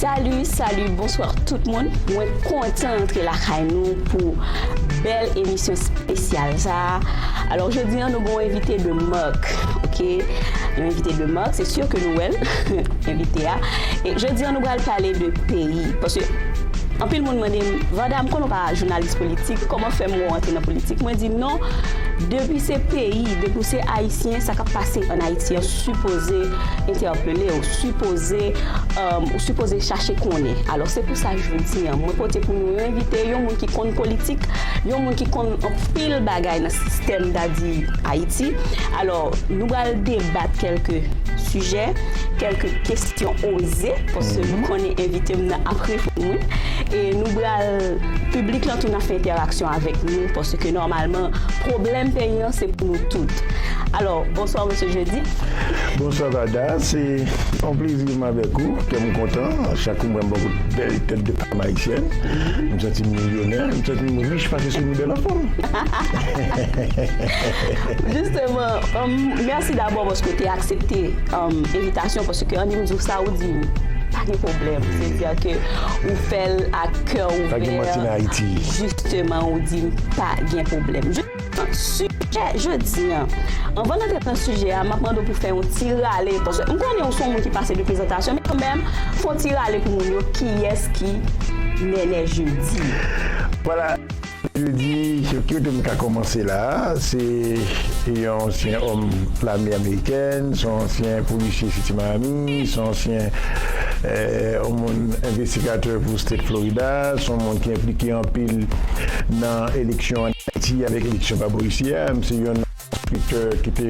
Salut salut bonsoir tout moun mwen kontan antre lakay nou pou bèl emisyon spesyal sa alò jodi an nou gon envite de mark ok yon envite de mark se sur ke nou wèl envite a e jodi an nou pral pale de peyi paske anpil moun mande m vanda m konnen w pa jounalis politik kòman fè m wè w antre nan politik mwen di non depi se peyi depi w se ayisyen sa k ap pase an ayiti an sipoze entèpele, ou sipoze, ou sipoze chache konnen. Alò se pou sa jodi an, mwen pote pou nou envite yon moun ki konn politik, yon moun ki konn anpil bagay nan sistèm dadi Ayiti. Alò nou pral debat kèlke sijè, kèlke kesyon oze, paske nou konnen envite m nan ap reponn. E nou pral, piblik lan tou nan fè entèraksyon avèk nou, paske nòmalman pwoblèm peyi an se pou nou tout. Bonsoir Mesye Jeudy. Bonswa Varda, se yon plezi pou m avèk ou, kè m kontan chak kou m wè m bò kote bèl tèt de pam ayisyèn, m santi m milyonè, m santi m rich paske nou bèl anfòm. Jisteman, mèsi dabò paske w te aksepte envitasyon paske annik m di w sa ou di m pa gen pwoblèm, se di a ke ou fè l ak kè ouvè, jisteman ou di m pa gen pwoblèm. Tout sijè jodi an. Anvan n antre nan sijè a, m ap mande w pou w fè yon ti rale, paske m konnen ou se yon moun ki pase de prezantasyon, men kanmenm, fè yon ti rale pou moun yo kiyès ki Nènè Jeudy. Vwala, Nènè Jeudy, se ki kote m ka kòmanse la a? Se yon ansyen òm lame amerikèn, se yon ansyen polisye Siti Miami, se yon ansyen yon moun envestigatè pou State Florida, se yon moun ki enplike anpil nan eleksyon an. Ayiti avèk eleksyon pa polisye a, m se yon enspektè ki te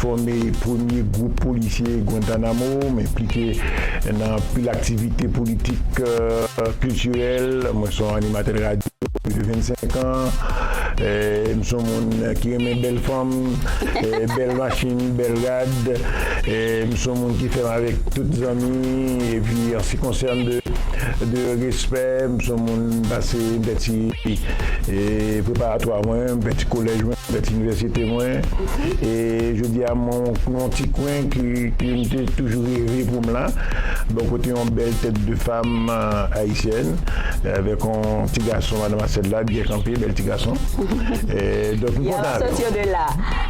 fòme premye gwoup polisye Guantanamo, m enplike nan anpil aktivite politik, kiltirèl, mwen son animatè radyo pou plis de 25 an, m son moun ki renmen bèl fanm, bèl machin, bèl rad, m son moun ki fèm avèk tout zanmi epi an si konsène de respè, m son moun m pase m fè ti. Epi, preparatwa mwen, m fè ti kolèj mwen, m fè ti inivèsite mwen. E jodi a m nan yon ti kwen ke m te toujou reve pou m la, bò kote yon bèl tèt de fam ayisyèn, avèk yon ti gason, madan Masèl la, byen kanpe, bèl ti gason. Donk m kontan avè w.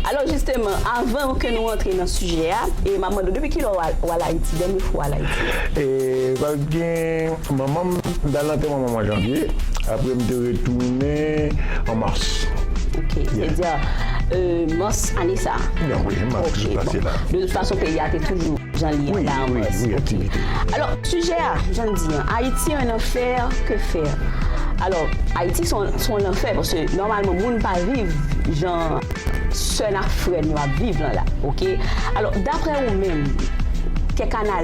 Alò jisteman, avan ke nou antre nan sijè a, m ap mande w depi kilè w al Ayiti, dènye fwa w al Ayiti? Manman m t al nan antenman manman m an janvye, apre m te retounen an mas. Ok, se di mas ane sa a? Nan wi, mas ki sot pase la. De tout fason peyi a te toujou jan li ye la an mas. Wi, wi, wi, aktivite. Alò, sijè a, jan n di an, Ayiti un enfer que faire? Alò, Ayiti se yon lanfè paske nòmalman moun pa viv jan sè n ak frè n yo ap viv lan la, ok? Alò, daprè ou menm, kèk analiz.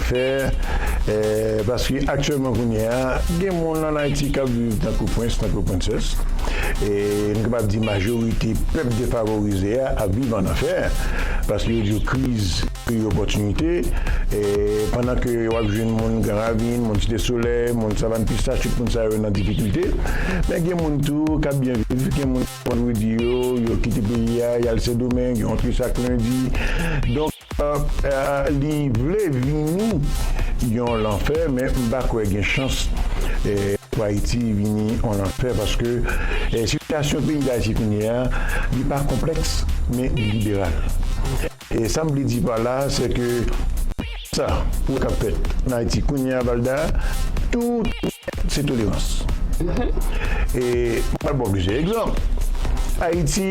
fè eh paske aktyèlman kounye a gen moun an Ayiti kap viv tankou prens tankou princess e nou kapab di majorite pèp defavorize a ap viv an anfè paske yo di yo kriz peyi opòtinite e pandan ke wap jwenn moun gran ravin moun site solèy moun savann pistach tout moun sa yo nan difikilte men gen moun tou kap byen viv gen moun vandredi yo yo kite peyi a yal sendomeng yo antre chak lendi donk. Li vle vini yon lanfè men m pa kwè gen chans pou Ayiti vini yon lanfè paske sitiyasyon peyi Dayiti kounye a li pa konplèks men li liberal. E sa m vle di pa la se ke sa k ap fèt ann Ayiti kounye a Valda tout se tolerans. E m pral ba w plizyè egzanp Ayiti.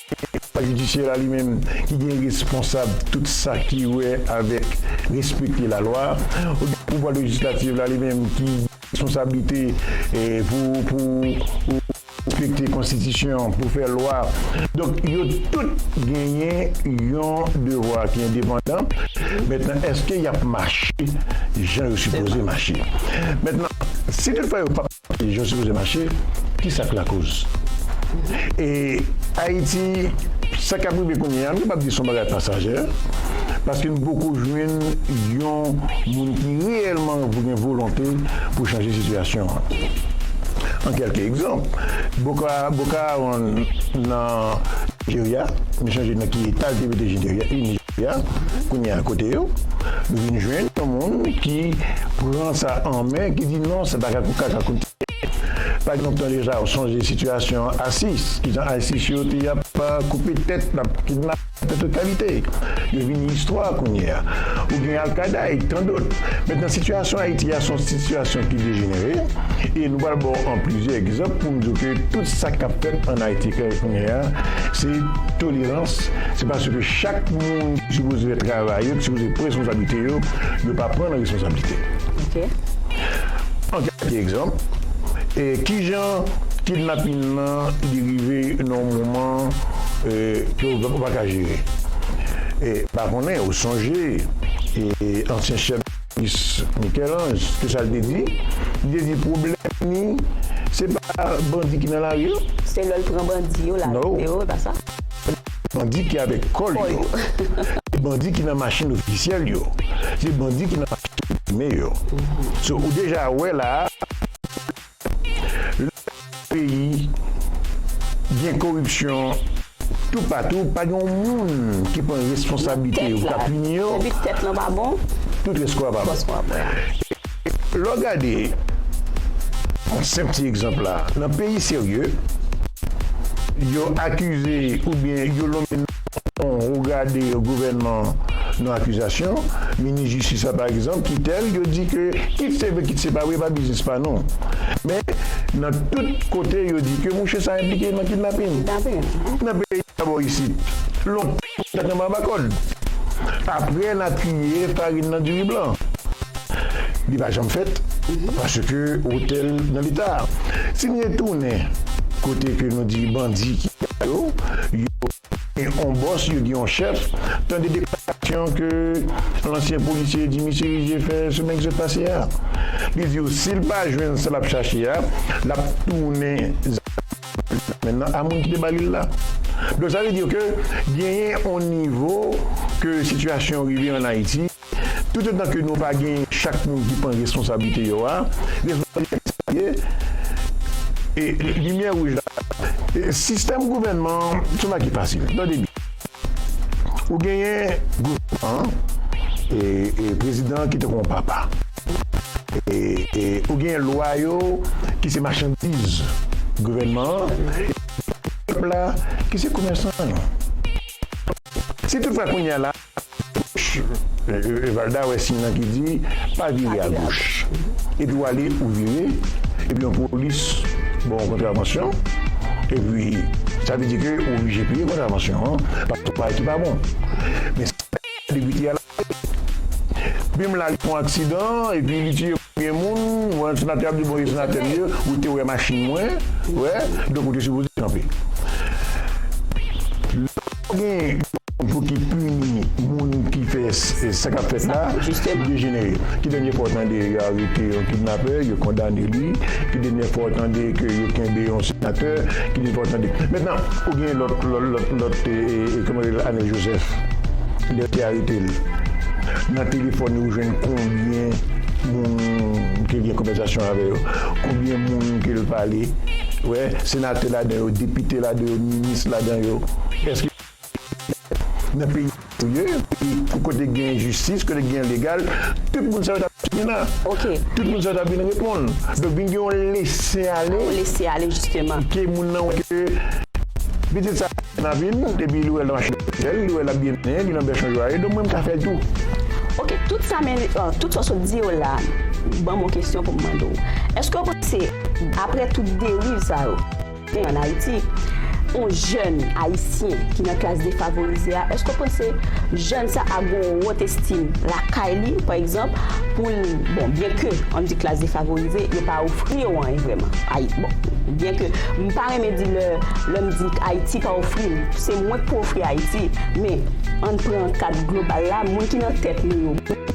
Eta jidisyè la li menm ki gen responsab tout sa ki wè avèk respekte lalwa. Pouvwa lejislatif la li menm ki gen responsablite pou respekte konstitisyon, pou fè lwa. Donk yo tout genyen yon devwa ki endepandan. Mentnan eske y ap mache jan yo sipoze mache? Mentnan si tout fwa yo p ap. Peyi yo sipoze mache, kisa k lakoz? E Ayiti, sa k ap rive kounye a, m kapab di se yon bagay pasajè, paske nou poko jwenn yon moun ki reyèlman gen volonte pou chanje sitiyasyon an. An kèlke egzanp, Boka Boko Haram nan Nijerya, m chonje nan ki eta l te mete Nijerya. Ya kounye a kote yo nou vin jwenn yon moun ki pran sa an men ki di non se pa ka kout ka ka kout pa ekzanp tan deja ou sonje sitiyasyon asis ki jan asis yo te ap koupe tèt ap kidnape de tout kalite yo vini istwa kounye a ou gen alkada e tan dot men nan sitiyasyon ayiti a son sitiyasyon ki dejenere e nou pral ba w an plizyè ekzanp pou m di w ke tout sa k ap fèt an ayiti kounye a se toleran. Lajistis se paske chak moun ki sipoze fè travay yo, ki sipoze pran responsablite yo, yo pa pran nan responsablite. An kèk egzanp, kijan kidnapin nan li rive nan yon moman ke ou pa ka jere? M pa konnen ou sonje ansyen chèf. Miss Michel-Ange, ki sa l te di? Li te di pwoblèm li, se pa bandi ki nan lari yo. Se lè l pran bandi yo, l arete yo, e pa sa? Se bandi ki avèk kòl yo. Se bandi ki nan machin ofisyèl yo. Se bandi ki nan machin ame yo. So, ou deja wè la a. Lè yon peyi gen koripsyon tou patou pa gen yon moun ki pran responsablite yo pou ta pini yo, tout rès kò a pa bon. E lè w gade yon senp ti egzanp la, nan peyi serye yo akize oubyen yo lonmen nan. Ou gade gouvènman nou akizasyon, minis jistis la pa egzanp kitel yo di ke kit se vre kit se pa vre epa biznis pa nou. Men nan tout kote yo di ke mouche sa enplike nan kidnapin. Nan peyi a bò isit lontan li tap anba kòd. Aprè na triye farin nan diri blan. Li pa janm fèt paske otèl nan leta. Timye tounen kote ke nou di bandi ki la yo, yo gen yon bòs, yo gen yon chèf. Tande deklarasyon ke ansyen polisye Jimmy Cherizier fè semèn ki sot pase a. Li di yo si l pa jwenn sa l ap chache a, l ap tounen zam nan a moun ki te ba li l la. Donk sa vle di ke genyen yon nivo ke sitiyasyon rive an Ayiti. Toutotan ke nou pa gen chak moun ki pran responsablite yo a, responsabilite a sa li ye, e limyè wouj la e sistèm gouvènman an se yon bagay ki fasil. Nou tande byen. Ou genyen gouvènman an e e prezidan an ki te kon papa. E e ou genyen lwa yo ki se machandiz gouvènman an e pèp la ki se komèsan yo. Si tout fwa kounye a la. Valda wè siy lan ki di pa vire a goch epi w ale ou vire epi yon polis ba w kontravansyon epi sa vle di ke ou oblije peye kontravansyon an paske w fè bagay ki pa bon men sa ki fè depite a lage pim lage yon aksidan epi li tiye konbyen moun yon senatè ap di bon senatè m ye ou te wè machin mwen wè donk ou te sipoze kanpe. Fok gen yon pou ki pini moun ki fè sa kap fèt la pou dejenere. Ki dènye fwa w tande yo arete yon kidnapè, yo kondane li, ki dènye fwa w tande ke yo kenbe yon senatè, ki dènye fwa w tande. Mentnan ou gen lòt lòt kòman rele l Anèl Jozèf lè yo te arete l nan telefòn li ou jwenn konbyen moun ke l gen konvèsasyon avè yo, konbyen moun ke l pale, wè senatè ladan yo, depite ladan yo. jistis ladan yo eske se nan peyi sa yo ye epi kote ki gen jistis kote ki gen legal tout moun sa yo ta dwe vin la tout moun sa yo ta vin reponn donk vin gen yon lese ale ke moun nan wè ke pitit sa gen nan vil epi li wè nan machin ofisyèl li wè lap byen abiye li nan bèchon jwa ye donk mwen m ka fèl tou. Ok tout sa men tout sa w sot di yo la banm yon kesyon pou m mande w eske w panse aprè tout deriv sa yo. Men an Ayiti, yon jèn ayisyen ki nan klas defavorize a, èske w panse jèn sa a gen yon wot estim lakay li, pa egzanp, pou l, bon, byenke an di klas defavorize, yo pa ofri yo anyen vrèman, Ayiti, bon, byenke m pa renmen di lè, lè m di Ayiti pa ofri m, se mwen k pou ofri Ayiti, men, an n pran kad global la, moun ki nan tèt nou yo.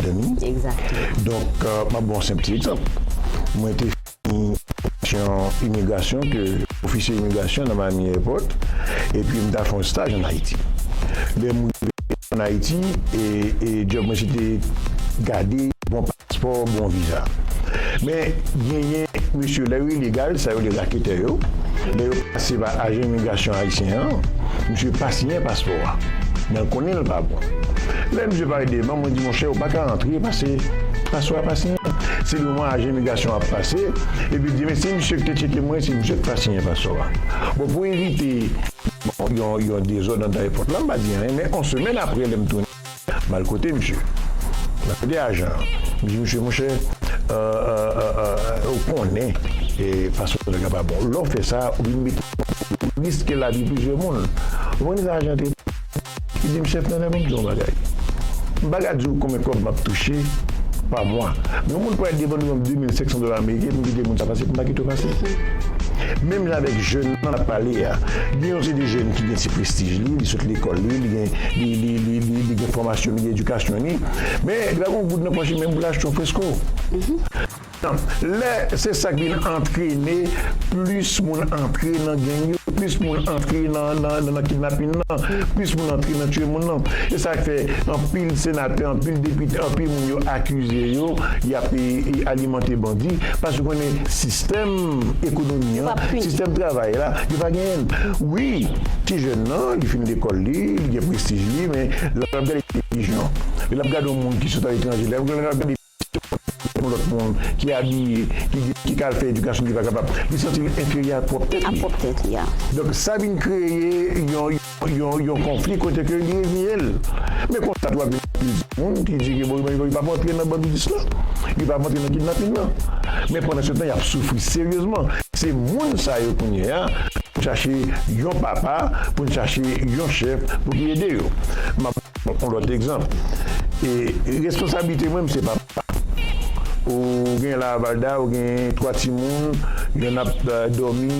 Zanmi. Exactement. Donk, m ap ba w yon senp ti egzanp. Mwen te fini fòmasyon imigrasyon ke ofisye imigrasyon nan Miami Airport, epi m ta fè yon staj an Ayiti. Lè m rive an Ayiti, e djòb mwen se te gade bon paspò, bon viza. Men, genyen mesye, lè yo ilegal, sa yo rele raketè yo, lè yo pase pa ajan imigrasyon ayisyen an, misye pa siyen paspò a, men l konnen l pa bon. Lè misye. Bay devan mwen di monchè ou paka antre pase paswa pa siyen se devan ajan imigrasyon wap pase epi di men se misye ki te tcheke mwen se misye ki pa siyen paswa bon pou evite yon dezòd andan èpòt la mpa di anyen men yon semèn aprè lèm tounen mal kote misye mal kote ajan an mdi misye monchè ou konnen paswa nèg la pa bon lèw fè sa ou vin mete ou riske lavi plizyè moun ou konn kisa ajan an te di. Li di m, Chèf Nana, ban m di w yon bagay. M pa ka di w konbyen kòb m ap touche pa mwa. Men yon moun pral depann ou yon 2,500 dola ameriken pou m kite moun sa pase, m pa kite w pase. Menm jan avèk jèn nan ap pale a, gen yon seri de jèn ki gen ti prestij li, li sot lekòl li, li gen, li gen fòmasyon, li gen edikasyon li, men li pa gen yon goud nan pòch li menm pou l achte yon fresko. Tanp. Lè se sa k vin antrene plis moun antre nan geng yo, plis moun antre nan kidnapin nan, plis moun antre nan tiye moun nan. Se sa k fè anpil senatè, anpil depite, anpil moun yo akize yo y ap alimante bandi paske yo konnen sistèm ekonomi an, sistèm travay la yo pa genyen l. Wi, ti jèn nan li fin lekòl li, li gen prestij li men lè l ap gade televizyon, lè l ap gade yon moun ki sot aletranje, lè l ap gade. Yon lòt moun ki abiye, ki di, ki ka al fè edikasyon li pa kapab, li santi l enferyè a pwòp tèt li. Donk sa vin kreye yon konfli kote ke li egnye l. Men konsa tou ap gen anpil timoun ki di ke bon yo pa pou antre nan bandidis la, yo pa pou antre nan kidnapin nan. Men pandansetan y ap soufri seryezman. Se moun sa yo kounye a pou n chache yon papa, pou n chache yon chèf pou ki ede yo. On lòt egzanp, e responsablite mwen, m se papa. Ou genyen la a Valda, ou genyen 3 timoun, yonn ap dòmi,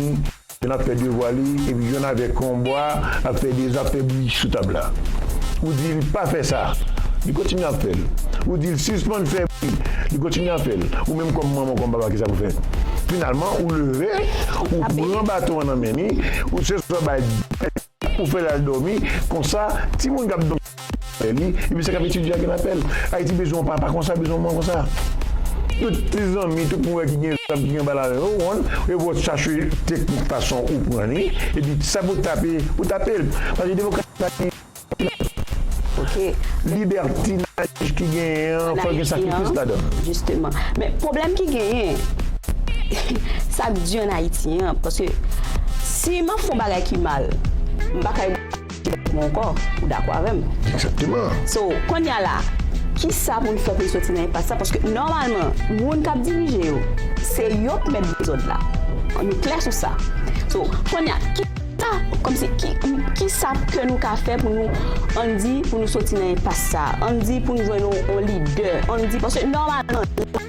yonn ap fè devwa li, epi yonn avèk yon bwa ap fè deza, ap fè bri sou tab la. Ou di l pa fè sa, li kontinye ap fè l. Ou di l sispann fè bri, li kontinye ap fè l. Ou menm kòm manman, kòm papa kisa pou fè? Finalman, ou leve, ou pran baton an nan men li, ou se sa w bay. Ou fè l al dòmi, konsa, timoun k ap dòmi nan kè li, epi sa k ap etidye a gen apèl. Ayiti bezwen yon papa konsa, bezwen yon manman konsa. Tout ti zanmi, tout moun wè ki gen zam, ki gen bal avè yo, konn, yo pran yo chache teknik fason ou pran li, epi sa pou tape, ou tape l. Paske demokrasi pa gen libertinaj. Libètinaj ki genyen an, fò l gen sakrifis ladan l. Jisteman. Men, pwoblèm ki genyen, sa k di ann Ayiti an, paske. Si map fon bagay ki mal, m pa ka ede ti bèt mwen ankò, ou dakò avèm? Exactement! So, konnya la, kisa pou n fè pou n soti nan enpas sa, paske nòmalman, moun kap dirije yo, se yo k mèt dezòd la, nou klè sou sa. So, konnya, kisa, kòmsi, kisa ke nou ka fè pou nou, ann di, pou nou soti nan enpas sa, ann di pou n jwenn yon lidè, ann di, paske nòmalman.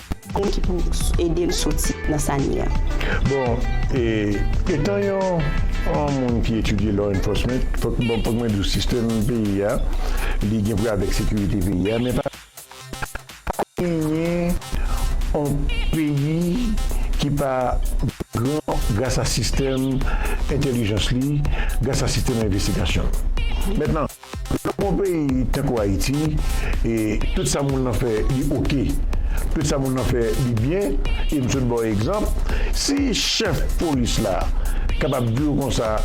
Moun ki pou edel soti nan sa li an. Bon e etan yon yon moun ki etidye law enforcement fok bon fok mwen diw sistèm peyi a li gen pou wè avèk sekirite peyi a men pa genyen yon peyi ki pa gran gras a sistèm entèlijans li gras a sistèm envestigasyon l mèt nan. Nan yon peyi tankou Ayiti e tout sa moun nan fè li ok, tout sa moun nan fè li byen e m sot ba w egzanp, si chèf polis la kapab di w konsa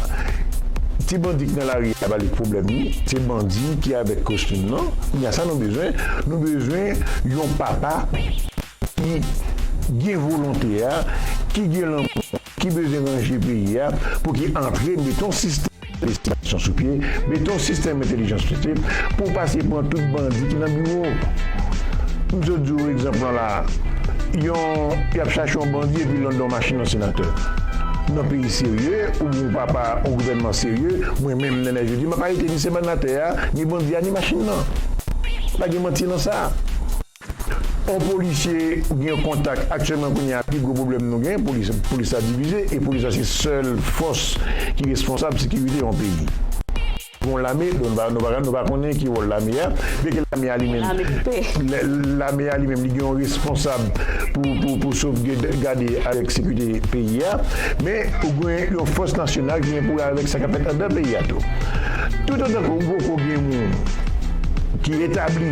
ti bandi k nan lari a ba li pwoblèm li, se bandi ki avèk kostim nan, kounya sa nou bezwen, nou bezwen yon papa. ki gen volonte a, ki gen lanmou, ki bezwen ranje peyi a pou ki antre mete yon sistèm lejislation sou pye, mete yon sistèm entelijans sou pye pou pase pran tout bandi ki nan biwo. M sot di w egzanp lan la a, yon y ap chache yon bandi epi lan dan machin yon senatè. Nan peyi serye ou byen w pa pa yon gouvènman serye, mwen menm Nènè Jodi m ap arete ni semanatè a, ni bandi a, ni machin lan. Pa gen manti lan sa. On polisye gen yon kontak aktyèlman kounye a pi gwo pwoblèm nou gen polis la divize e polis la se sèl fòs ki responsab sekirite yon peyi gon lame nou pa konnen ki wòl lame a byen ke lame a li menm lame a li menm li gen yon responsab pou sovgade avèk sekirite peyi a men ou gen yon fòs nasyonal ki gen pou wè avèk sa kap fèt andan peyi a tou toutotan ke ou poko gen moun ki etabli.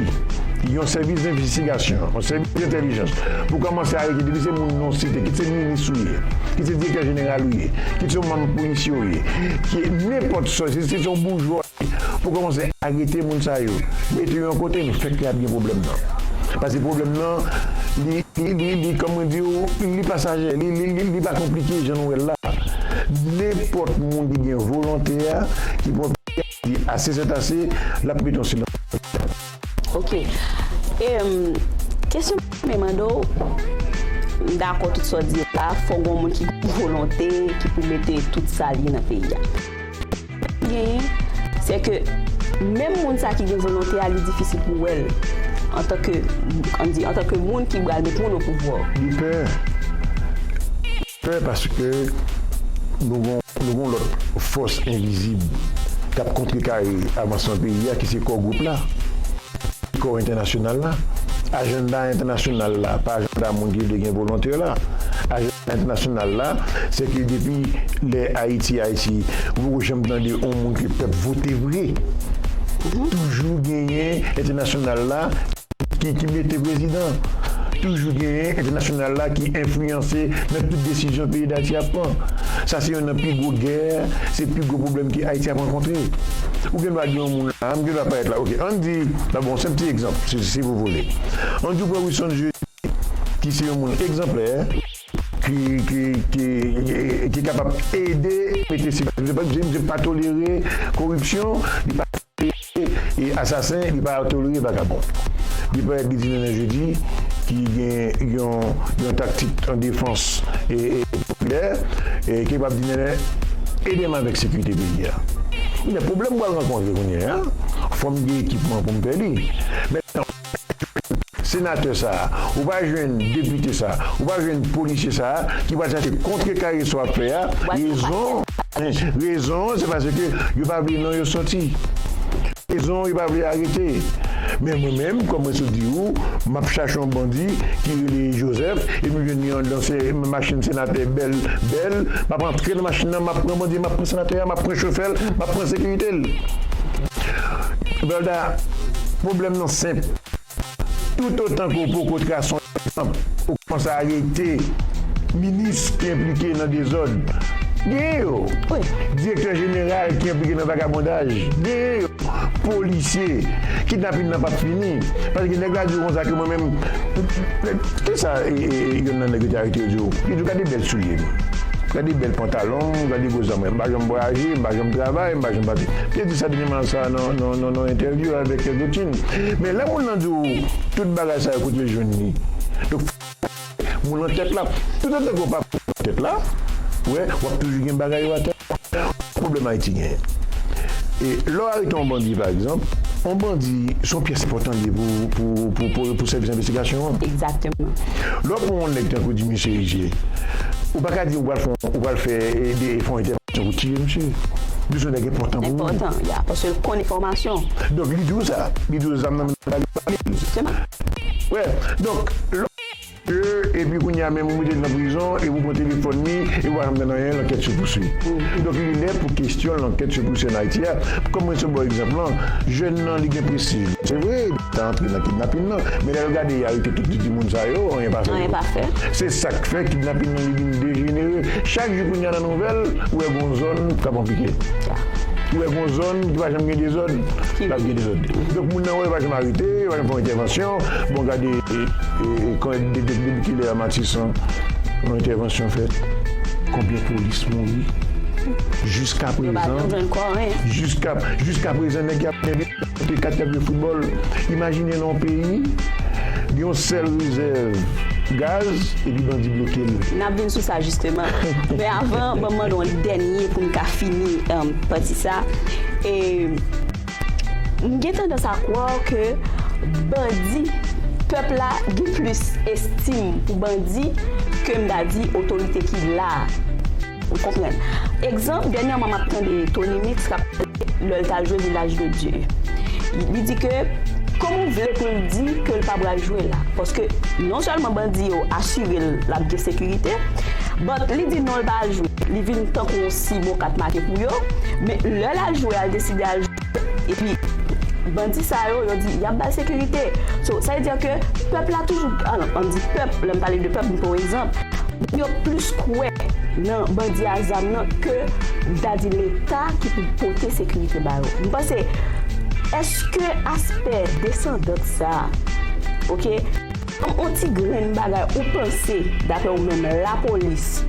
Yon sèvis envestigasyon, yon sèvis entèlijans, pou kòmanse arete depi se moun non site, kit se minis ou ye, kit se direktè jeneral ou ye, kit se yon manm polisye ou ye, ki nenpòt sa, kit se yon boujwa ou ye, pou kòmanse arete moun sa yo, mete yo yon kote, nou fèk lè ap gen pwoblèm nan. Pase pwoblèm nan, li, li, li, kòman mwen di ou, li pasajè, li, li, li, li pa konplike jan nou wè l la. Nenpòt moun ki gen volonte a, ki pran. Di ase sèt ase lap mete yon silans. Ok em kesyon mwen mande w m dakò tout sa w di la fò gon moun ki gen volonte ki pou mete tout sa l ye nan peyi a pwoblèm ki genyen se ke menm moun sa ki gen volonte a li difisil pou wè l antanke antanke moun ki pral met moun opouvwa. Li pè. Pè paske nou gon lòt fòs envizib k ap kontrekare avansman peyi a ki se Core Group la, Core Entènasyonal la. Ajanda entènasyonal la pa ajanda moun ki vle gen volontè la. Ajanda entènasyonal la se ke depi lè Ayiti Ayiti ou poko janm tande yon moun ke pèp vote vre. Toujou genyen entènasyonal la. Ki ki mete prezidan? Toujou genyen entènasyonal la ki enfliyanse nan tout desizyon peyi Dayiti ap pran. Sa se yonn nan pi gwo gè, se pi gwo pwoblèm ke Ayiti ap rankontre. Ou gen dwa gen yon moun la, m gen dwa pa èt la. Ok, ann di, m bon se yon ti egzanp, si si vou vole. Ann di ou pran Wilson Jeudi ki se yon moun egzanplè. ki kapab ede mete sekirite paske misye di misye pa tolere koripsyon li pa tolere asasen li pa tolere vagabon li parèt li di nan nan jodi ki gen yon taktik an defans popilè ki kapab di nan ede m avèk sekirite peyi a men pwoblèm m pral rankontre kounye a fò m gen ekipman pou m fè li men Senatè sa a, ou pa jwenn depite sa a, ou pa jwenn polisye sa a ki pral chache kontrekare sa w ap fè a, rezon, rezon an se paske yo pa vle non yo soti, rezon an yo pa vle arete, men mwen menm kòm mwen sot di ou, m ap chache yon bandi ki rele Joseph epi m jwenn li anndan machin senatè bèl, bèl, m ap antre nan machin nan m ap pran bandi an, m ap pran senatè a, m ap pran chofè l, m ap pran sekirite l. Valda, pwoblèm. Rezon senp, toutotan ke w poko trase yon egzanp, ou kòmanse arete minis ki enplike nan dezòd, genyen yo, direktè jeneral ki enplike nan vagabondaj, genyen yo, polisye, kidnapin nan pap fini, paske nèg la di w konsa ke mwen menm, kisa yonn nan nèg yo te arete yo di w? Yo di w gade bèl soulye m, gade bèl pantalon m, gade gwo zam mwen, m pa janm vwayaje, m pa janm travay, m pa janm pati, m te di sa dènyèman sa nan. Nan yon entèvyou avèk Evertin, men lè moun lan di w tout bagay sa yo kote yo jwenn li? Donk fòk ou bay moun lan tèt la. Toutotan ke w pa bay moun lan tèt la, ou wè, w ap toujou gen bagay yo atè. Ki pwoblèm Ayiti genyen? E lè w arete yon bandi pa egzanp, yon bandi se yon pyès enpòtan li ye pou sèvis envestigasyon an. Egzakteman. Lè w pran yon nèg tankou di Misye Riche, ou pa ka di ou pral fè yon entèvansyon pou tiye misye. Misye se yon nèg enpòtan. enpòtan ya paske l konn enfòmasyon. Donk li di w sa. Li di w zam nan menm la li pa menm. Se pa. Wè donk lò ke epi kounya menm ou mete l nan prizon epi ou pran telefòn li epi ou pa janm tann anyen lankèt se pousui. Donk li lè pou kesyon lankèt se pousui an Ayiti a kòm mwen te ba w egzanp lan jèn nan li gen prestij se vre li ta antre nan kidnapin nan men lè l gade y arete tout titi moun sa yo anyen pa fè yo se sa k fè kidnapin nan li vin dejenere chak jou kounya nan Nouvèl, Ou wè gon zòn k ap anpike. Ou wè gon zòn ki pa janm gen dezòd, k ap gen dezòd. Donk moun nan wè yo pa janm arete, yo pa janm fè yon entèvansyon. Bon gade konbyen depi kilè a Matisan yon entèvansyon fèt? Konbyen polis mouri? Jiskaprezan jiskaprezan nèg y ap. Kote 4 kap jwe foutbòl? Imajine nan yon peyi gen yon sèl rezèv gaz epi bandi bloke l. N ap vin sou sa jisteman. Men avan, ban m mande w yon dènye pou n ka fini pati sa. M gen tandans a kwà ke bandi, pèp la gen plis estim pou bandi ke m ta di otorite ki la a. Ou konprann. Egzanp, dènyèman m ap tande Tony Mix k ap pale lè l t al jwe Village de Dieu. Li di ke kòman ou vle pou l di ke l pa pral jwe la paske non sèlman bandi yo asire l l ap gen sekirite but li di non l pa al jwe li vin tankou yon si bon kat make pou yo men lè l al jwe a l deside al jwe Epi bandi sa yo, yo di yap bal sekirite. So, sa vle di ke pèp la toujou, an m di pèp, lè m pale de pèp m pran yon egzanp, moun yo plis kwè nan bandi a zam nan ke dadi leta ki pou pote sekirite ba yo. M panse, eske aspè desandant sa, ok. On ti grenn bagay ou panse daprè ou menm lapolis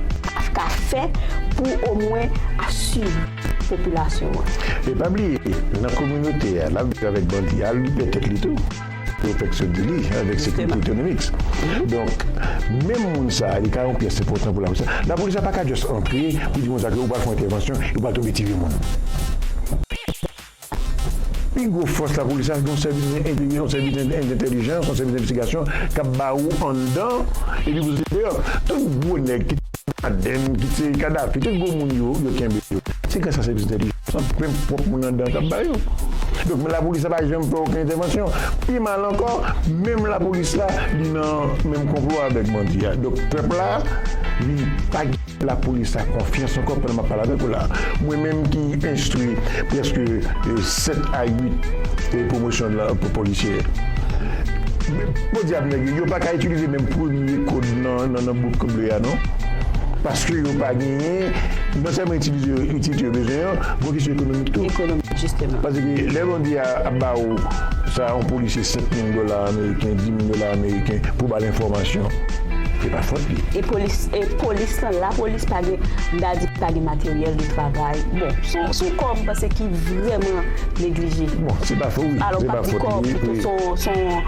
ka fè pou omwen asire. popilasyon an. E pa bliye nan kominote a lap viv avèk bandi a al li pè tèt li tou yo fèk sot di li avèk sekirite otonomik donk menm moun sa li ka yon pyès enpòtan pou lapolis la lapolis la paka just antre pou di moun sa ke ou pral fè yon entèvansyon epi ou pral tonbe tire moun. Pi gwo fòs lapolis la se yon sèvis entegre, yon sèvis entèlijans, yon sèvis envestigasyon k ap ba ou anndan epi pou soti deyò. Tout gwo nèg kit se Ben Laden, kit se Kadafi, tout gwo moun yo, yo kenbe yo. Se gras a sèvis entèlijans lan, menm pwòp moun anndan an k ap ba yo. Donk lapolis la pa janm fè okenn entèvansyon. Pi mal ankò, menm lapolis la li nan menm konplo avèk bandi a. Donk pèp la vin pa gen. Lapolis la konfyans ankò pandan m ap pale avèk ou la. Mwen menm ki enstwi prèske 7 a 8 pwomosyon polisyè. Podyab nèg yo, yo pa ka itilize menm premye kod nan bout kod bleu a non. Paske yo pa genyen, non sèlman itilize yo itilite yo bezwen an, gon kesyon ekonomik tou. Ekonomik, jisteman. Pase ke lè bandi a ap ba ou sa yon polisye 5 mil dola ameriken, 10 mil dola ameriken pou ba l enfòmasyon, se pa fòt li. E polis. E polis lan la polis pa gen dadi pa gen materyèl de travay bon son kò m panse ki vrèman neglije bon se pa fo wi alò m pap di kò pito son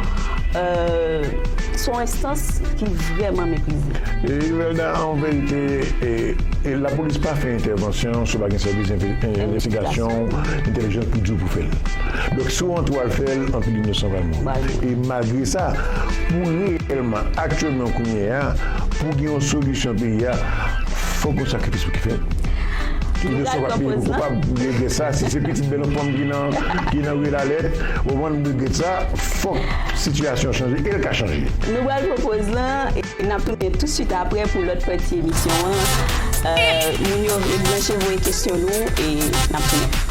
son enstans ki vrèman meprize. Imelda an verite e la polis pa fè entèvansyon si w pa gen sèvis envestigasyon entèlijans li di w pou fè l donk si w antre w al fè l anpil inosan pral mouri e malgre sa pou reyèlman aktyèlman. Nan kounye a, pou gen yon solisyon peyi a, fòk yon sakrifis ki fèt. Ki nou pral pran poz lan. Regrèt sa, si se pitit bèl fanm ki nan ki nan rue Lalette, ou konprann m regrèt sa, fòk sitiyasyon an chanje e l ka chanje. Nou pral pran poz lan e n ap tounen tousuit aprè pou lòt pati emisyon an. Moun yo rete branche voye kesyon nou e n ap tounen.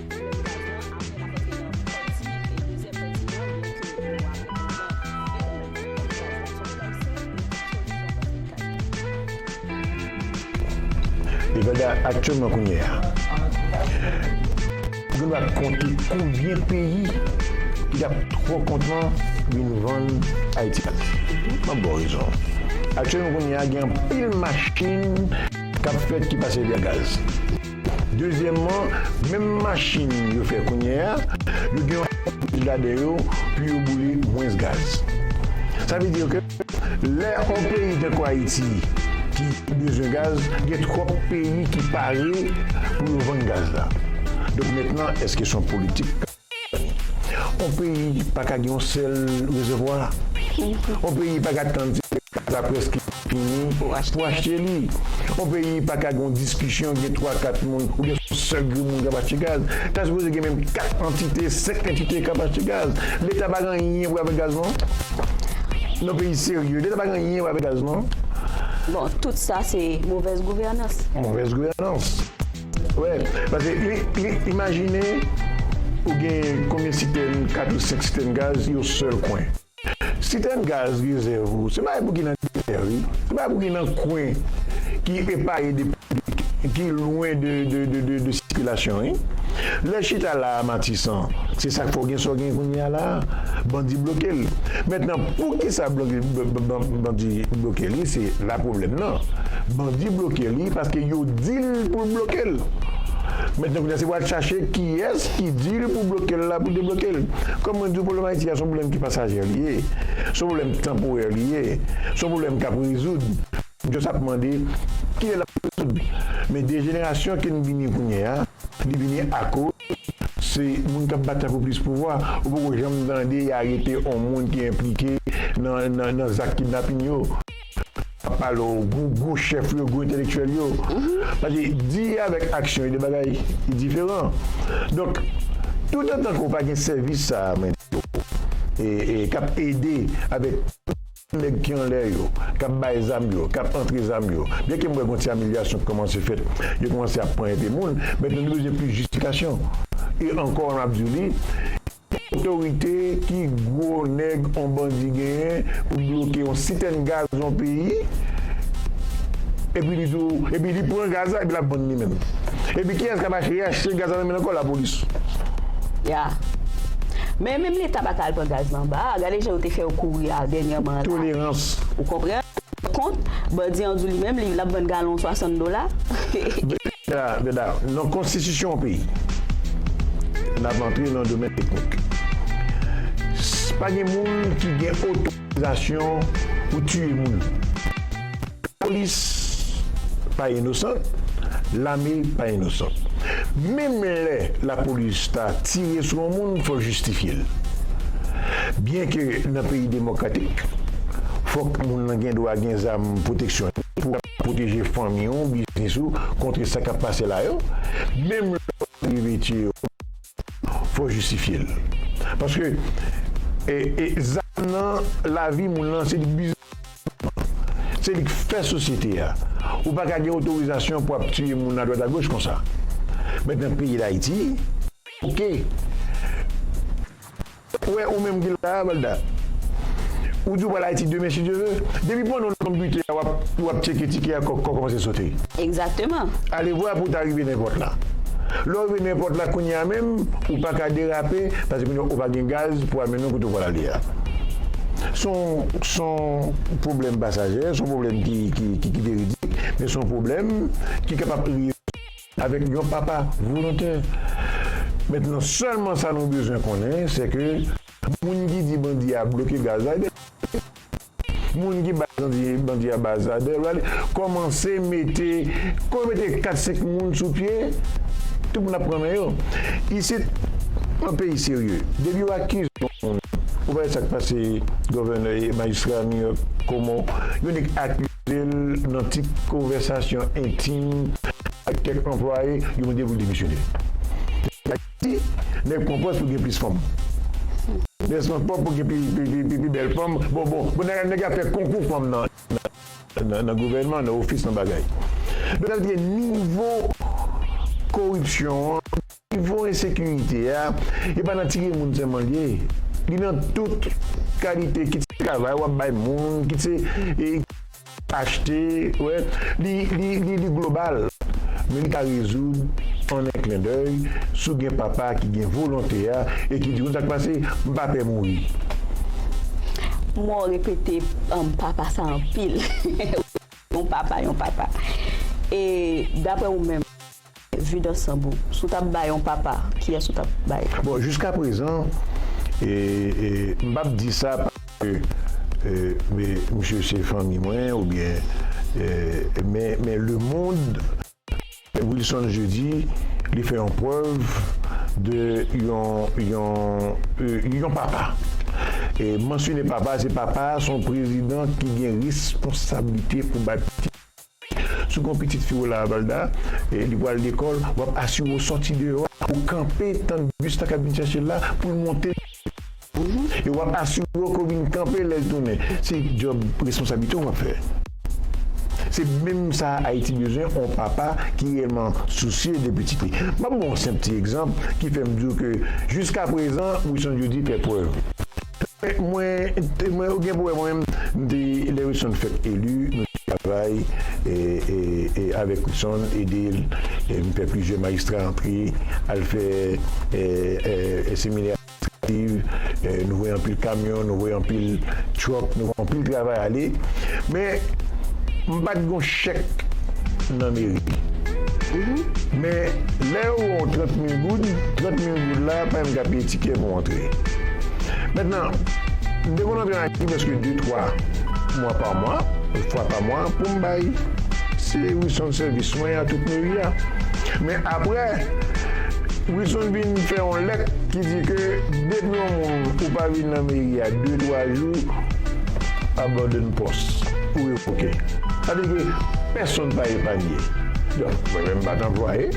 Nevada aktyèlman kounye a gen dwa konte konbyen peyi ki t ap twò kontan vin vann Ayiti ak m ap ba w rezon. Aktyèlman kounye a gen anpil machin k ap fèt ki pase via gaz. Dezyèmman, menm machin yo fè kounye a, yo gen yon pwosedi ladan yo pou yo boule mwens gaz. Sa vle di ke lè yon peyi tankou Ayiti ki bezwen gaz, gen twòp peyi ki pare pou yo vann gaz la. Donk mètnan, èske se yon politik? On peyi pa ka gen yon sèl rezèvwa. On peyi pa ka tann ti gaz la prèske fini pou achte li. On peyi pa ka gen yon diskisyon gen twa kat moun oubyen son sèl grenmoun k ap achte gaz. Ta sipoze gen menm kat antite, senk antite k ap achte gaz. Leta pa gen anyen pou l avèk gaz non. Non peyi serye, leta pa gen anyen pou l avèk gaz non. Bon, tout sa se movèz gouvènans. Movèz gouvènans. Wè, pase imajine ou gen konbyen sitèn, 4 ou 5 sitèn gaz yon sèl kwen. Sitèn gaz rezèv ou se bagay pou ki nan dèyè wi, se bagay pou ki nan kwen ki epaye de piblik, ki lwen de sikilasyon wi. Lè chita la a Matisan, se sak fè w gen sa w gen kounya la a, bandi bloke l. Mentnan poukisa bandi bloke li se la pwoblèm nan. an bandi bloke li paske yo dil poul blokel mentnan kounya se pou al chache kiyes ki dil pou blokel la pou deblokel kom mwen diw pwoblem ayiti a son pwoblem ki pasager li ye son pwoblem tanporè li ye son pwoblem kap rezoud just ap mande kilè lap rezoud men dejenerasyon kin vini kounyea li vini akoz se moun kap batay pou plis pouvwa ou poko janm tande y arete on moun ki enplike nan zak kidnapin yo. Wap pale yon gwo gwo chèf yo, gwo entelektyèl yo. Paske di avèk aksyon e 2 bagay ki diferan. Donk, toutotan ke w pa gen sèvis sa a mwen di w, e e kap ede avèk tout nèg ki anlè yo, kap bay zam yo, kap antre zam yo, byen ke m wè gon ti amelyasyon ki kòmanse fèt, yo kòmanse ap pran enpe moun, men nou bezwen plis jistifikasyon. E ankò map di w li. Otorite ki gwo nèg on bandi genyen pou bloke on sitèn gaz on peyi epi li di w epi li pran gaz la epi lap vann li menm epi kiyès kap achte reachte gaz la nan men l ankò lapolis. Ya. Men menm leta pa ka al pran gaz la anba a gade jan yo te fè yo kouri a dènyèman la. Tolerans. Ou konprann? Kont, Bandi an di w li menm li ap vann galon 60 dola. Bernard, nan konstitisyon yon peyi, n ap antre nan domèn teknik, pa gen moun ki gen otorizasyon pou tiye moun. Lapolis pa inosan, lame pa inosan. Menm lè lapolis ta tire sou yon moun, fò l jistifye l. Byenke nan peyi demokratik, fò. Moun lan gen dwa gen zam pwoteksyon li pou pwoteje fanmi ou, biznis ou kontre sa k ap pase la yo. Menm lè w pa rive tiye yo, fò w jistifye l. Paske zam nan lavi moun lan, se li k biznis moun lan. Se li k fè sosyete a. Ou pa ka gen otorizasyon pou ap tiye moun adwat agoch konsa. Mèt nan peyi Dayiti, ok. Ou wè ou menm ki la a Valda? Ou di ou pral Ayiti demen si Dye ve? Depi panno nan bute a w ap tyeke tike a kòk kò kòmanse sote. Egzakteman. Alevwa pou w ta rive nenpòt la. Lè w rive nenpòt la kounye a menm, ou pa ka derape paske kounye a ou pa gen gaz pou amenn ou kote w pral ale a. S on s on pwoblèm pasajè, s on pwoblèm ki veridik men s on pwoblèm ki kapab rezoud. Avèk yon papa volontè. Mentnan sèlman sa nou bezwen konnen se ke moun ki di bandi a bloke gazadè, moun ki bay bandi bandi a bazadè vale kòmanse mete kò mete 4 5 moun sou pye tout moun ap pran men yo isit yon peyi serye depi yo akize yon moun ou pa wè sak pase govènè majistra new york komo yo nèk ak Koze l nan ti konvèsasyon entim ak kèk anplwaye, yo mande pou l demisyone. Peyi Ayiti, nèg pran pòz pou gen plis fanm. Nèg pran pòz pou gen pi bèl fanm. Bon, bon, bon nèg ap fè konkou fanm nan gouvènman, nan ofis, nan bagay. Donk sa vle di gen nivo koripsyon an. Nivo ensekirite a, e pa nan tiye moun sèlman l ye, li nan tout kalite kit se travay w ap bay moun, kit se achte, li global. Men li ka rezoud an 1 klendèy si w gen papa ki gen volonte a e ki di w konn sa k pase, m pa pè mouri. Mwen repete papa sa anpil. Yon papa, yon papa. E daprè ou menm? Vue d'ensemble, Si w tap bay yon papa, kiyès ou tap bay? Bon, jiska prezan, m pap di sa paske misye se fanmi mwen oubyen, men le mond, Wilson Jeudi, li fè yon prèv de yon papa. E mansyone papa, se papa a se yon prezidan ki gen responsablite pou bay pitit. Si w gen yon pitit fi w la, Valda, e li pral lekòl, w ap asire w soti deyò a pou w kanpe tann bis la k ap vin chèche l la pou l monte e w ap asire w ke w vin kanpe lè l tounen. Se djòb responsablite w w ap fè. Se menm sa Ayiti bezwen, yon papa ki reyèlman sousye de pitit li. M ap ba w yon senp ti egzanp ki fè m di w ke jiskaprezan Wison Jeudy fè prèv. Mwen mwen ou gen pou wè mwen menm m te lè Wilson fèk eli nou te travay avèk Wilson ede l m fè plizyè majistra antre al fè seminè administrativ nou voye anpil kamyon nou voye anpil truck nou voye anpil travay ale men m pat gon chèk nan meri men lè yo ba w 30 mil goud 30 mil Se la a payem ka peye tikè pou antre. Mentnan, m te konn antre nan Haiti preske de twa mwa pa mwa, fwa pa mwa pou m bay Wilson sèvis mwen a tout meri a. Men aprè, Wilson vin fè yon lèt ki di ke depi yon moun ou pa vin nan meri a de twa jou, abandone pòs ou revoke. Sa vle di ke pèsonn pa epanye. Donk, mwen menm m pa t anplwaye,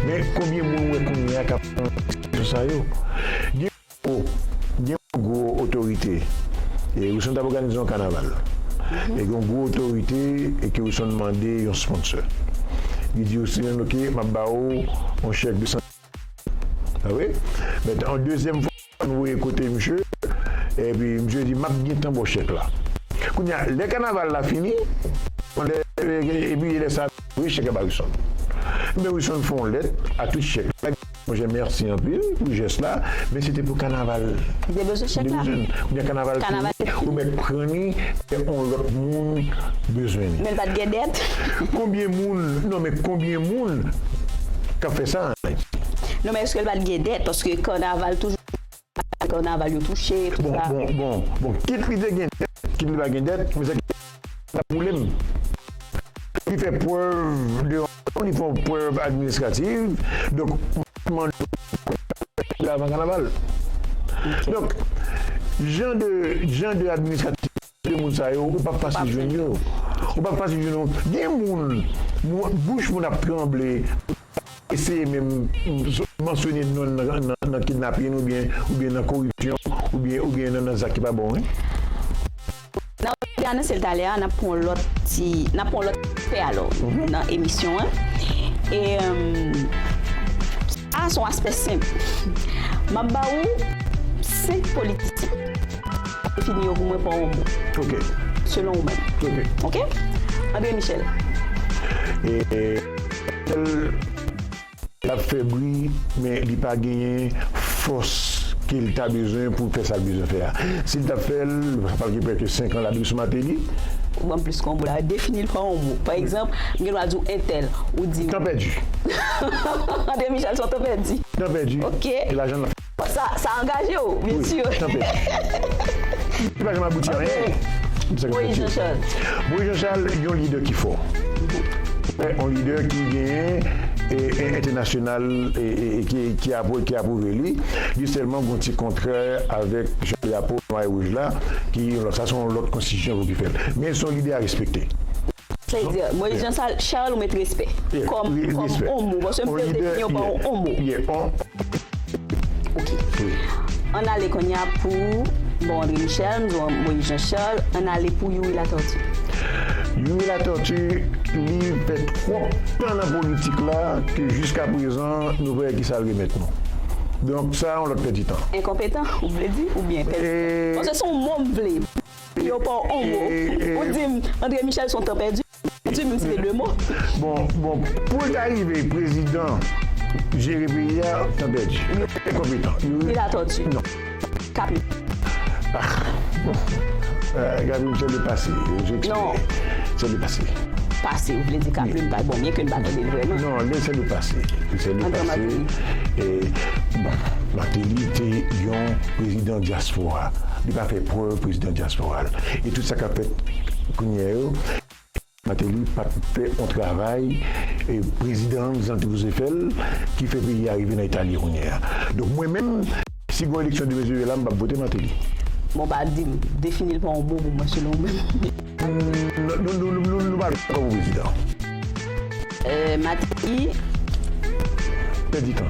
men konbyen moun m wè kounyè a? Leta kap pran desizyon sa yo. Gen gwo gen yon gwo otorite e Wilson tap òganize yon kanaval e gen yon gwo otorite e ke Wilson mande yon sponsor li di Wilson ok map ba ou yon chèk 250 mil. Sa vre? But yon dezyèm fwa. Ann voye kote misye epi misye di map gentan bo chèk la kounye a lè kanaval la fini epi lè sa voye chèk la ba Wilson ebyen Wilson fè yon lèt ak tout chèk la monchè mèsi anpil pou jès la men se te pou kanaval li te bezwen chèk la kounye a kanaval fini ou mèt pran li lè yon lòt moun bezwen li men pat gen dèt konbyen moun non men konbyen moun kap fè sa. Non men eske l pat gen dèt paske kanaval toujou se kanaval yo touche tout sa. Bon bon kit li te gen dèt kit li pa gen dèt men sa ki pi enpòtan sa boule m fòk li fè prèv devan nou li fè yon prèv administrativ donk mwen ap mande ou pou l fè prèv li avan kanaval donk jan de jan de administrativ sa 2 moun sa yo ou pap fasil jwenn yo ou pap fasil jwenn yo gen moun bouch moun ap tranble pou ta eseye menm mansyone non nan kidnapin oubyen oubyen nan koripsyon oubyen oubyen nan zak ki pa bon wi. Nan ou te anonse l talè a nap pran yon lòt ti nap pran yon lòt aspè alò nan emisyon an e sa a son aspè senp map ba ou 5 politisyen. Defini yo pou mwen pa yon mo. Ok. Selon ou menm. Ok. Ok? Andre Michel. Michel l ap fè bri men li pa genyen fòs ke l ta bezwen pou l fè sa l bezwen fè a. Si l t ap fè l, sa pa l gen prèske 5 an l ap dwe sou Mateli. Ou ban m plis konbo la. Defini l pa yon mo. Pa egzanp, m gen dwa di w entèl. Ou di m. Tan pèdi. Andre Michel se yon tan pèdi. Tan pèdi. Ok. E lajan l ap. Sa angaje w, byen si. Wi, tanpri. Li pa janm abouti a anyen. Ok. Moyiz Janchal. Moyiz Janchal, yon lidè ki fò. Yon lidè ki genyen entènasyonal ki apwouve li. Li sèlman gen yon ti kontrè avèk jan drapo nwa e wouj la ki sa se yon lòt konstitisyon ki fè l. Men se yon lidè a respekte. Plezir. Moise Jean Charles ou met respè kòm on mo paske m fèl defini w pa on mo. Ok. Ann ale konnya pou Bon André Michel m di w Moise Jean Charles ann ale pou Youri Latortue. Youri Latortue li fè twòp tan nan politik la ke jiskaprezan nou pa wè kisa l remèt nou. Donk sa yon lòt pèdi tan. Enkonpetan ou vle di oubyen pèdi tan? Paske son mo m vle. Yo pa w on mo. Ou di m Andre Michel son tan pèdi menm si se 2 mo. Bon bon poul ta rive prezidan jere peyi a tan pèdi li enkonpetan li latòti non kapè Gaby Michel depase je tire se depase pase ou vle di kaplim pa bon byen ke n pa tande l vrèman non li se depase li se depase bon Martelly te yon 1 prezidan dyaspora li pa fè prèv prezidan dyaspora l e tout sa kap fèt kounyè yo. Mateli pat fè on travay e prezidan jan l te sipoze fè l ki fè peyi a rive nan eta l ye kounyè a donk mwen menm si gon eleksyon demen sove la m pap vote mateli. Bon pa dim, defini l pa yon mo pou mwen selon ou menm. Nou pa dakò pou prezidan. Mateli. Pèdi tan.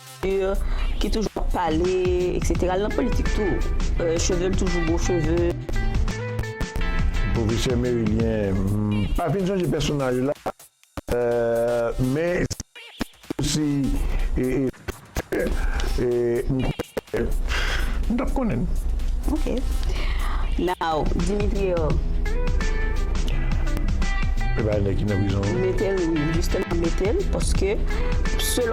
ki toujou ap pale etc li nan politik tou chevel toujou gwo cheve. Professeur Merilien m pa fin sonje pèsonaj ou la men si m konnen m tap konnen l ok now Dimitri o epa nèg ki nan prizon m metel wi m metel paske selon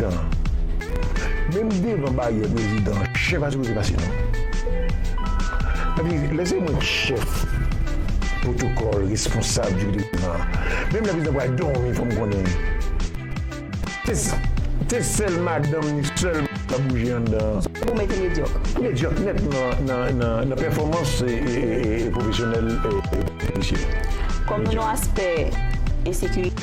dan. Menm devan baryè prezidan. Chèf a sipoze pase non. Epi lè se mwen ki chèf pwotokòl, responsab di kote prezidan. Menm lè prezidan pral dòmi fò m konnen. Se sèl madanm ni sèlman ki ka bouje anndan an. Pou mwen te medyòk. Medyòk nèt nan pèfòmans pwofesyonèl polisye. Kòm yon aspè ensekirite.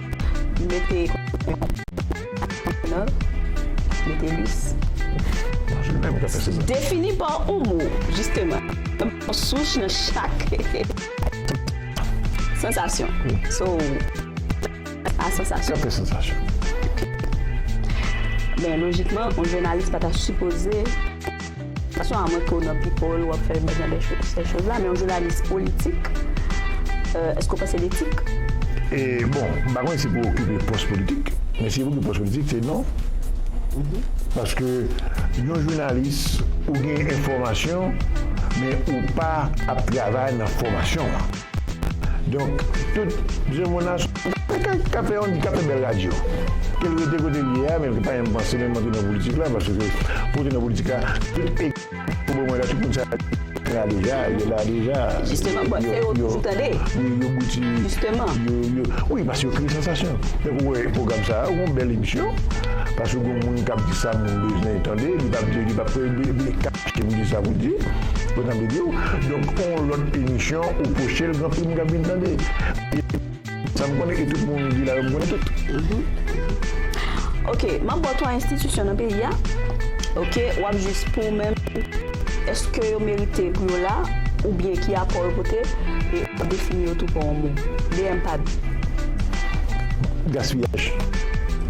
Mete Mete lis Defini pa ou mo jisteman Sous nan chak Sansasyon So A sansasyon Kèk sansasyon Men lojikman, yon jounalis pa ta sipoze. Fason a mwen ke w nan people, wap fè bèl jan de cho, sè choz la, men yon jounalis politik, èske w panse l etik? E bon, m pa konnen si pou okipe pòs politik, men si pou okipe pòs politik, se non. Paske yon jounalis, ou gen enfòmasyon, men ou pa ap travay nan fòmasyon an. Donk tout je mon a sou Kaka kap fè yon kap fè bèl radyo ke l rete kote l ye a men l pa janm panse menm antre nan politik la paske pou w antre nan politik la tout e pou bon mwen la tout moun sa yo la deja yo la deja Jisteman bon se yo w toujou tande yo bouti jisteman yo yo wi paske yo kreye sansasyon tankou w wè pwogram sa a ou gon bèl emisyon paske gon moun kap di sa moun bezwen tande li pap li pap Kite pou di sa pou di, pou nan bidi w. Donk on lòt emisyon ou poche l gen anpil moun k ap vin tande. E sa m konnen e tout moun ou di la yo m konnen tout. Ok, m ap ba w twa enstitisyon nan peyi a, ok, w ap jis pou ou menm èske yo merite pou yo la oubyen ki apò yo pote e w ap defini yo tou pa w an mo. DMPAD. Gaspiyaj.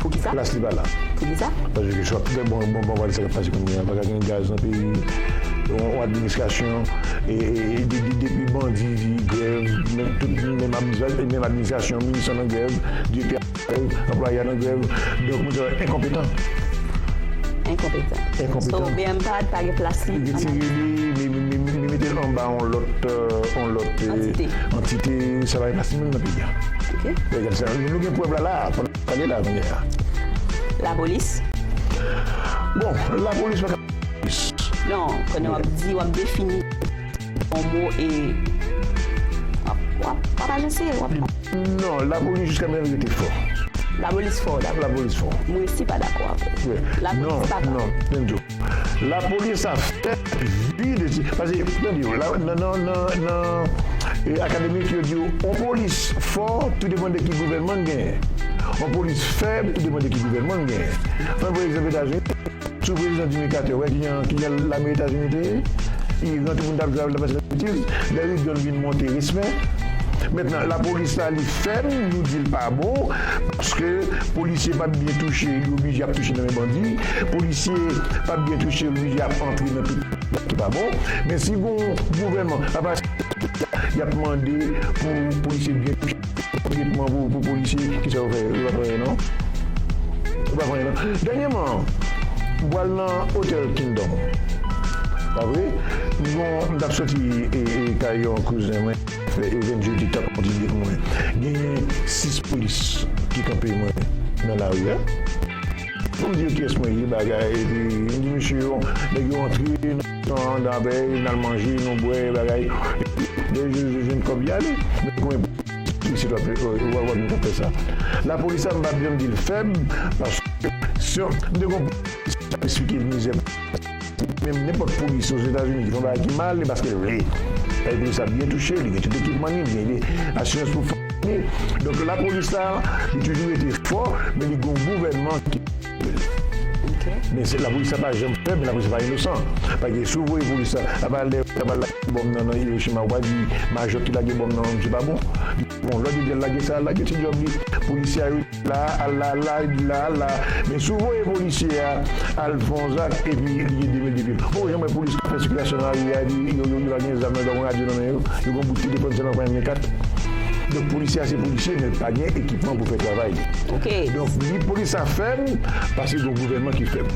Pou ki sa? Plas li pa la. Pou ki sa? Paske chak bon bon bon bon. Sa k pase kounye a, pa ka gen gaz nan peyi, yon administrasyon depi bandi di grèv menm tout menm administrasyon minis lan nan grèv, direktè an nan grèv, anplwaye an nan grèv donk moun sa yo enkonpetan. Enkonpetan. Enkonpetan. So bmpad pa gen plas li. Retire li, mi mete l anba yon lòt antite, antite sa pa gen plas li menm nan peyi a. Ok. Nou gen prèv la la a. Tande la mea. La polis. Bon la polis pa ka polis. Non konnen wap di wap defini yon mo e wap wap ajanse wap di. Non la polis jiska mea li rete fò. La polis fò ou dakò. La polis fò. Mwen si pa dakò ak ou. La polis pa fò. Non non menm tou. La polis ap fè vi de ti pase tande yo la nan nan nan nan akademik yo diw on polis fò tou depan de ki gouvènman gen on polis fèb tou depan de ki gouvènman gen pran pou egzanp etazini sou prezidan jimi katè wè ki jan ki jan lame etazini te ye iran tout moun tap jwe avèl tap pase nan betiz lè reagan vin monte respè mentnan la polis la li fèb nou dil pa bon paske polisye pat byen touche li oblije ap touche nan men bandi. Polisye pap byen touche wi yap antre nan tout bagay ki pa bon men si gon gouvènman ap asiste yap mande pou polisye byen touche bon tretman pou polisye kisa yo fè yo pap anyen non yo pap anyen non dènyèman m pwal nan otèl kingdom pa vre m gon m tap soti kay yon kouzen mwen fè evèn jodi tap kontinye pou mwen genyen 6 polis ki kanpe mwen nan lari a. Pou diw kyes mwen ye bagay epi m di mesye yo nèg yo antre nan dapèy nal manje nou bwè bagay lè yo jwenn kòb yale men koumen isit wap jwenn kap fè sa lapolis la m pap janm dil fèb paske m te gon polisye kap esplike mizè Menm nenpòt polis Ozetazini ki fè yon bagay ki mal, e paske l vle. Paske polis la byen touche, li gen tout ekipman li, li gen asirans pou fanmi l. Donk lapolis la, li toujou rete fò, men li gen yon gouvènman ki pou l. Men se lapolis la pa janm fèb, men lapolis la pa inosan. Pa egzanp, si w voye polis la, apa lè yo ta pral lage bonm nan nan Iwochima, ou pa di majò ki lage bonm nan, msye pa bon. Bon, lòt yo di al lage sa, al lage, se djòb li. Polisye a yo. La la la la la Men si w voye polisye a al fè yon zak epi li gen 2 mil depil Ou poko janm wè polis k ap fè sikilasyon nan lari a epi yo yo pa gen zam yo pa gen radyo nan men yo Yo gen yon bout kout epòn sèlman pa gen M4 Donk polisye a se polisye men l pa gen ekipman pou l fè travay li Ok Donk ni polis la fèb paske gen yon gouvènman ki fèb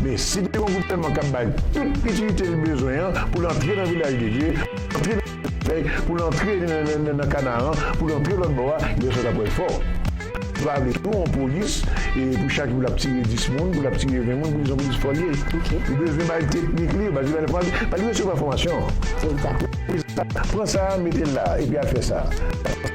Men si te gen yon gouvènman k ap bay tout itilite l bezwen an pou l antre nan vilaj de Dye Antre nan Men, pou l antre nan kanaran, pou l antre lòtbò a, gen lè sa t ap ret fò. Li pa vle tou yon polis pou chak jou l ap tiye 10 moun, pou l ap tiye 20 moun, pou l di se yon polis fò l ye. Li bezwen bay teknik li yo, bay li fòmasyon, pa li resevwa fòmasyon. Egzat. Pran sa a, mete l la a, epi al fè sa a.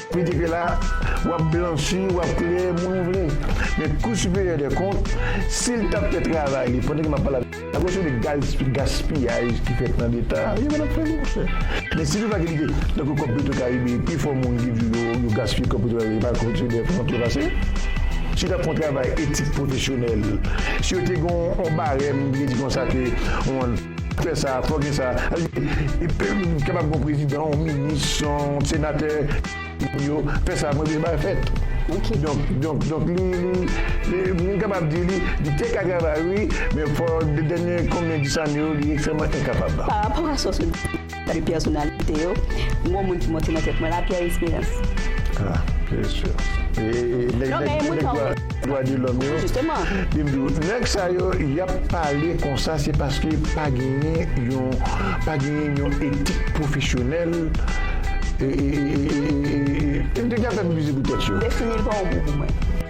Piti ke la, w ap blanchi, w ap klere moun ou vle. Men Kou Siperyè dè Kont, si l t ap fè travay li pandan ke m ap pale avè w la, kesyon de gaspiyaj ki fèt nan Leta a, yo pa t ap fè li, monchè. Men si toufa ke li te, tankou kòb Petro Karibe, pifò moun ki di yo yo gaspiye kòb Petro Karibe, yo pa kwè ke se dè kont yo pase. Si yo t ap fè yon travay etik pwofesyonèl, si yo te gen yon barèm ki te di konsa ke yon. Fè sa, fò gen sa. Kapab gon prezidan, yon minis, yon senatè, yo fè sa, mwen vle bay fèt. Donk li, mwen kapab di li, li te ka travay wi, men fò dènye konbyen dis ane yo li ekstrèman enkapab. Parapò a sa w sot di. Salut pèsonalite yo, m gon moun ki monte nan tèt mwen la Pierre Espérance. Ah bien sûr nèg dwa de lòm yo byen m di w nèg sa yo yap pale konsa se paske pa genyen yon pa genyen yon etik pwofesyonèl yo te gen ap fè piblisite pou tèt yo. Defini l pa yon mo pou mwen.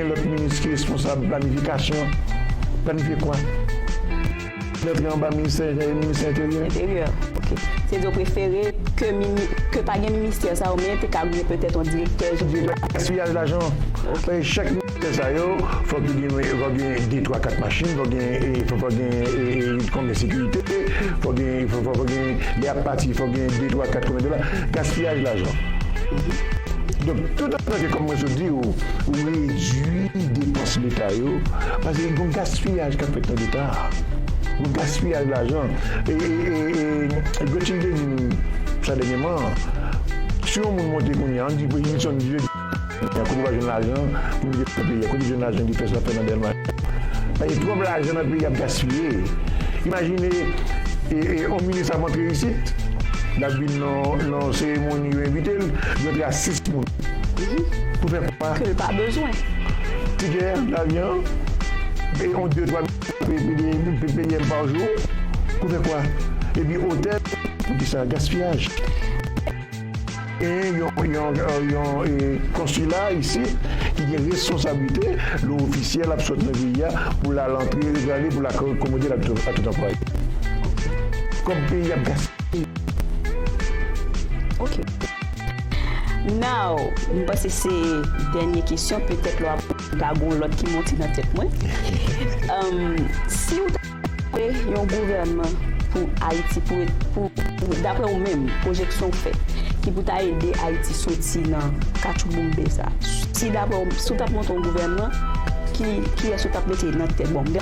Yon lòt minis ki responsab planifikasyon planifye kwa? Lèt la anba ministè enteryè, minis enteryè. Enteryè, ok. Se di w prefere ke pa gen ministè sa yo men te ka gen petèt yon direktè jeneral. Direktè gaspiyaj lajan. Ok. Paske chak ministè sa yo fòk yo gen de twa kat machin, fòk gen lit konbyen sekirite, fòk gen lè y ap pati fòk gen de twa kat konbyen dola. Gaspiyaj lajan. Donk tout. Paske kòm mwen sot di ou, ou redui depans leta yo, paske gen yon gaspiyaj k ap fèt nan leta a, yon gaspiyaj lajan. E Gretchen te di m sa dènyèman, si yon moun monte kounye a, an n di Prezidan Nixon di l, Prezidan, kote w ap jwenn lajan pou mete nan peyi a, kote w jwenn lajan Gifès ap fè nan Dèlma 1? Paske twòp lajan nan peyi a ap gaspiye. Imajine yon minis ap antre isit, l ap vin. Nan seremoni yo envite l, jwèt la sis moun pou fè kwa ke l pa bezwen. Tikè lavyan an e yon de twa mil ppm pa jou pou fè kwa. Epi otèl. Poukisa gaspiyaj? Genyen yon konsila isit ki gen responsablite lè ofisyèl ap sot nan peyi a pou l al antre, pou l ale, pou l akomode l ak tout anplwaye. Kòb peyi a ap gaspiye. Ok Now M panse se dènye kesyon petèt lwa ka gon lòt ki monte nan tèt mwen Si ou ta fè yon gouvènman pou Ayiti pou daprè ou menm pwojeksyon ou fè ki pou ta ede Ayiti soti nan katchouboumbe sa si daprè ou si ou t ap monte yon gouvènman kiyès ou t ap mete nan tèt bon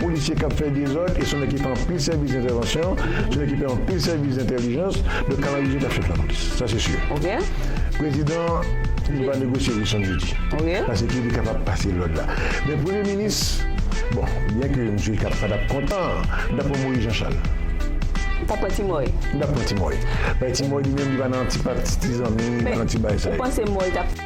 Polisye k ap fè dezòd e se yon nèg ki fè anpil sèvis entèvansyon, se yon nèg ki fè anpil sèvis entèlijans, donk Kanaris Jim t ap chèf lapolis, sa se si. Prezidan li pa negosye Wilson Jeudi paske li kapab pase lòd la. Men premye minis, bon, byen ke misye ka pa t ap kontan, li t ap pran Moyiz Janchal. Li t ap pran Ti Mòy. Li t ap pran Ti Mòy. Ti Mòy li menm li pa nan ti pati, ti zanmi, li pa nan ti bagay sa yo.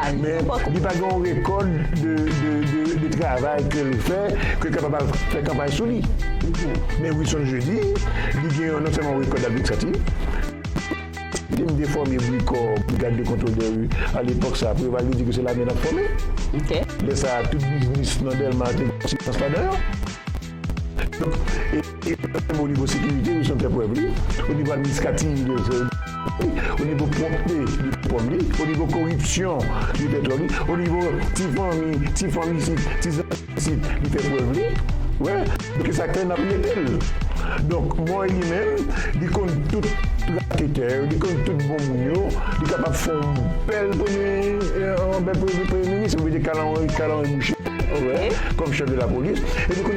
Men li pa gen yon rekòd de travay ke l fè ke l kapab al fè kanpay sou li. Men Wilson Jeudi, li gen yon non sèlman yon rekòd administratif. Li menm te fòme BRICOR, Brigade de Contrôle des Rues, a lepòk sa a. Preval te di ke se lame l ap fòme. Lè sa a, tout biznis nan Dèlma te gen silans ladan yo. E li menm o nivo sekirite li son tè prèv li, o nivo administrativ li son yon tè prèv li, o nivo pwòpte li son tè prèv li, o nivo koripsyon li tè prèv li, o nivo ti fanmi, ti fanmi isit, ti zanmi isit li fè prèv li. Wè, donk e sa k fè n ap mete l. Donk Moy li menm li konn tout raketè yo, li konn tout bon moun yo, li kapab fè yon bèl premye minis, yo mete Kalanri Boucher kòm chèf de lapolis.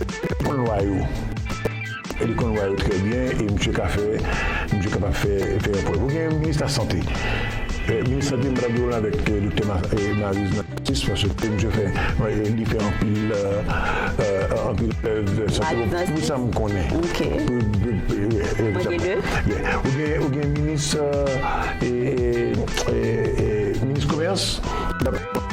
Li konn lwa yo. Li konn lwa yo trè byen e misye ka fè, misye kapab fè yon prèv. Ou gen minis lasante. Minis lasante mwen ta di w lan avèk doktè Mariz nan jistis paske misye fè, li fè anpil, anpil prèv nan sante. Bon, pou sa m konnen. Mwen gen de. Ou gen minis, minis komès.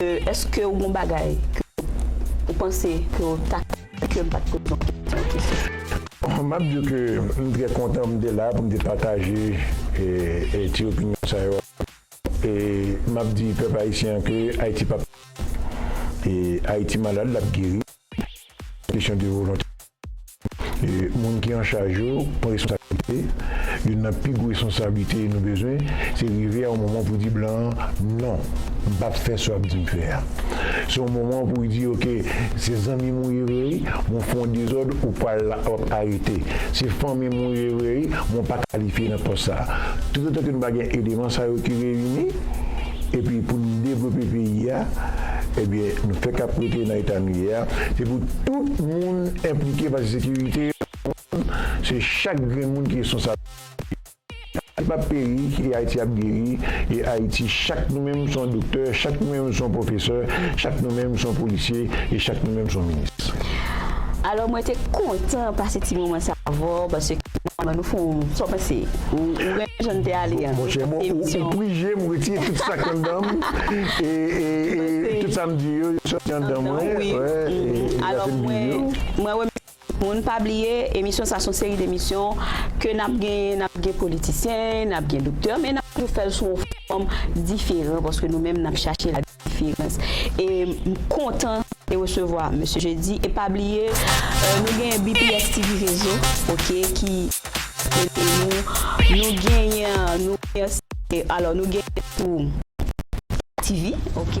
Eske ou gon bagay ke ou panse ke ou ta ka fè ke m pat poze w kesyon ki sou sa? Bon, m ap di w ke m trè kontan m te la pou m te pataje ti opinyon sa yo avè w. E m ap di pèp ayisyen an ke Ayiti p ap peri. E Ayiti malad, l ap geri. Se kesyon de volontè. Moun ki an chaj yo pran responsablite, youn nan pi gwo responsablite nou bezwen se rive a yon moman pou di blan an non, m pap fè sa w ap di m fè a. Se yon moman pou di ok se zanmi m ou ye vre wi men w fè yon dezòd ou pral w ap arete, se fanmi m ou ye vre wi men w pa kalifye nan pòs sa. Tout otan ke nou pa gen eleman sa yo ki reyini, Epi pou nou devlope peyi a, ebyen nou fèk ap rete nan eta nou ye a, se pou tout moun enplike paske sekirite moun se chak grenn moun ki responsab. Ayiti pap peri e Ayiti ap geri e Ayiti chak nou menm son doktè, chak nou menm son pwofesè, chak nou menm son polisye e chak nou menm son minis. Alò mwen te kontan pase ti moman sa avèw paske mwen nou fon sa w panse ou renmen. Jan n te ale an. Monchè bon ou prije m retire tout sak anndan m e tout sa m di yo yo sòti anndan mwen wè e zafè m viv yo. Mwen remèsye tout moun pa bliye emisyon sa son seri demisyon ke nap genyen nap gen politisyen nap gen doktè men nap toujou fèl sou yon fòm diferan paske nou menm nap chache la. Firenze e m kontan e resevwa Mesye Jeudi e pa bliye nou genyen bps TV rezo ok ki ede nou nou genyen nou genyen alò nou genyen tou TV ok.